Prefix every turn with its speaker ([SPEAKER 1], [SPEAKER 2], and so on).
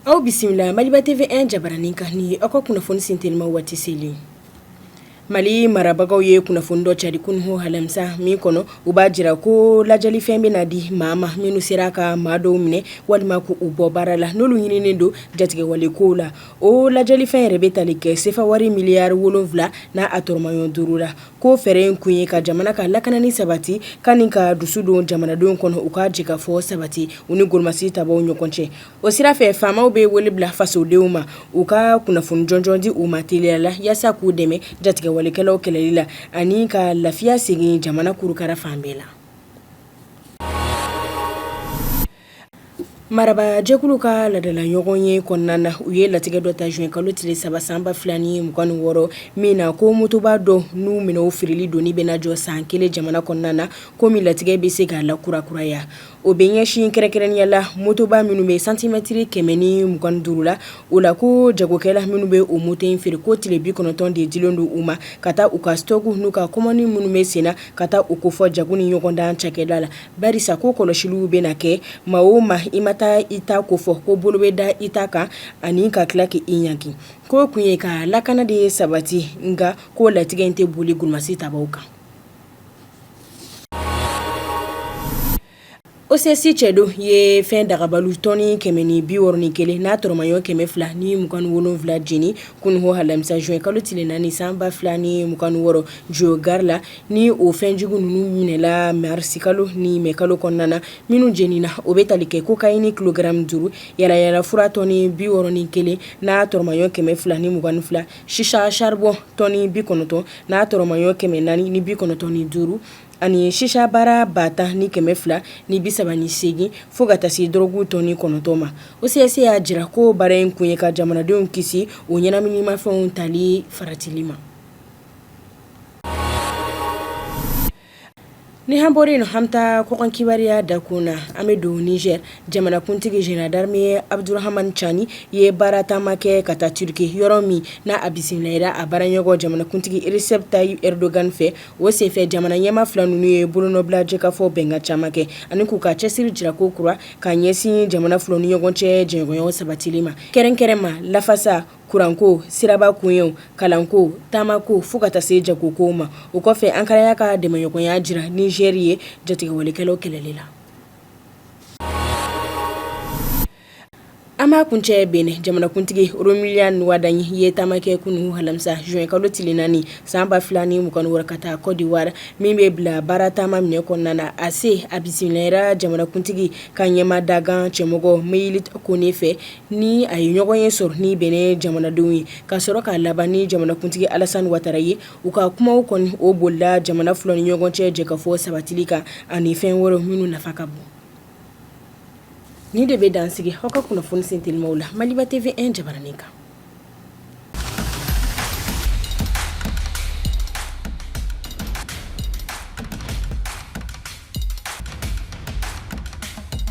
[SPEAKER 1] Aw bisimila maliba TV an jabaranin kan ni aw ka kunnafoni sin teliman waati selen mali marabagaw ye kunnafoni dɔ cari kunun alamisa min kɔnɔ u b'a jira ko ladiyalifɛn bɛna di maa ma minnu sera ka maa dɔw minɛ walima k'u bɔ baara la n'olu ɲininnen don jatigɛwale kow la o ladiyalifɛn yɛrɛ bɛ tali kɛ sefa wari miliyari wolonwula n'a tɔrɔmaɲɔgɔn duuru la ko fɛɛrɛ in kun ye ka jamana ka lakanani sabati ka ni ka dusu don jamanadenw kɔnɔ u ka jɛkafɔ sabati u ni golomasi tabaw ɲɔgɔn cɛ o sira fɛ faamaw bɛ wele bila fasodenw ma u ka kunnafoni jɔnjɔn di u ma teliya la yaasa k'u dɛmɛ jatigɛwalekɛlaw kɛlɛli la ani ka lafiya segin jamana kurukara fan bɛɛ la Marabaa jɛkulu ka ladala ɲɔgɔn ye kɔnɔna na u ye latigɛ dɔ ta zuwɛn kalo tile saba san ba fila ni mugan ni wɔɔrɔ min na ko motoba dɔw n'u minɛnw feereli donni bɛna jɔ san kelen jamana kɔnɔna na ko min latigɛ bɛ se ka lakurakuraya o bɛ ɲɛsin kɛrɛnkɛrɛnnenya la motoba minnu bɛ santimɛtiri kɛmɛ ni mugan ni duuru la o la ko jagokɛla minnu bɛ o moto in feere ko tile bi kɔnɔntɔn de dilen don u ma ka taa u ka sitɔki n'u ka kɔmandi minnu bɛ sen na ka taa u kofɔ jago ni ɲɔgɔndan cakɛda la Barisa ko kɔlɔsiliw bɛna kɛ maa o ma i ma taa i ta kofɔ ko bolo bɛ da i ta kan ani ka tila k'i ɲangi ko kun ye ka lakana de ye sabati nka ko latigɛ in tɛ boli golomasi tabaw kan OCS cɛdenw ye fɛn dagabaliw tɔni kɛmɛ ni bi wɔɔrɔ ni kelen n'a tɔrɔmaɲɔgɔn kɛmɛ fila ni mugan ni wolonwula jeni kunun alamisa zuwɛn kalo tile naani san ba fila ni mugan ni wɔɔrɔ jo gari la Ni o fɛnjugu ninnu minɛla marisikalo ni mɛ kalo kɔnɔna na minnu jenina o bɛ tali kɛ kokayini kilogaramu duuru yaalayaala fura tɔni bi wɔɔrɔ ni kelen n'a tɔrɔmaɲɔgɔn kɛmɛ fila ni mugan ni fila shisha saribɔn tɔni bi kɔnɔntɔn n'a tɔrɔmaɲɔgɔn kɛmɛ naani ni bi kɔnɔntɔn ni duuru ani shisha bara ba tan ni kɛmɛ fila ni bi saba ni seegin fo ka taa se dɔrɔgu tɔni kɔnɔntɔn ma OCS y'a jira ko baara in kun ye ka jamanadenw kisi o ɲɛnaminimafɛnw tali faratili ma Ni an bɔra yen an bɛ taa kɔkan kibaruya dakun na an bɛ don Nizɛri jamanakuntigi zenerali darame Abudurahamani Cani ye baara taama kɛ ka taa Turiki yɔrɔ min na a bisimilala a baaraɲɔgɔn jamanakuntigi Resɛpu Tayipu Ɛridogan fɛ o senfɛ jamana ɲɛmaa fila ninnu ye bolonɔbila jɛkafɔ bɛnkan caman kɛ ani k'u ka cɛsiri jira kokura ka ɲɛsin jamana fila ni ɲɔgɔn cɛ jɛɲɔgɔnya sabatili ma kɛrɛnkɛrɛn ma lafasa kuranko siraba koɲɛw kalanko taamako fo ka taa se jagokow ma o kɔfɛ ankara y'a ka dɛmɛɲɔgɔnya jira nizɛri ye jatigɛwalekɛlaw kɛlɛli la an b'a kuncɛ benɛn jamanakuntigi romiyali wadaɲi ye taama kɛ kunun alamisa zuwɛn kalo tile naani san ba fila ni mugan ni wɔɔrɔ ka taa kɔdiwari min bɛ bila baara taama minɛ kɔnɔna na a se a bisimilayara jamanakuntigi ka ɲɛmaa dankan cɛmɔgɔ meyiliye kone fɛ ni a ye ɲɔgɔnye sɔrɔ ni benɛn jamanadenw ye ka sɔrɔ k'a laban ni jamanakuntigi alasan watara ye u ka kumaw kɔni o bolila jamana fila ni ɲɔgɔn cɛ jɛkafɔ sabatili kan ani fɛn wɛrɛw minnu nafa ka bon nin de bɛ dan sigi aw ka kunnafoni sentelimaw la maliba tv un jabaranin kan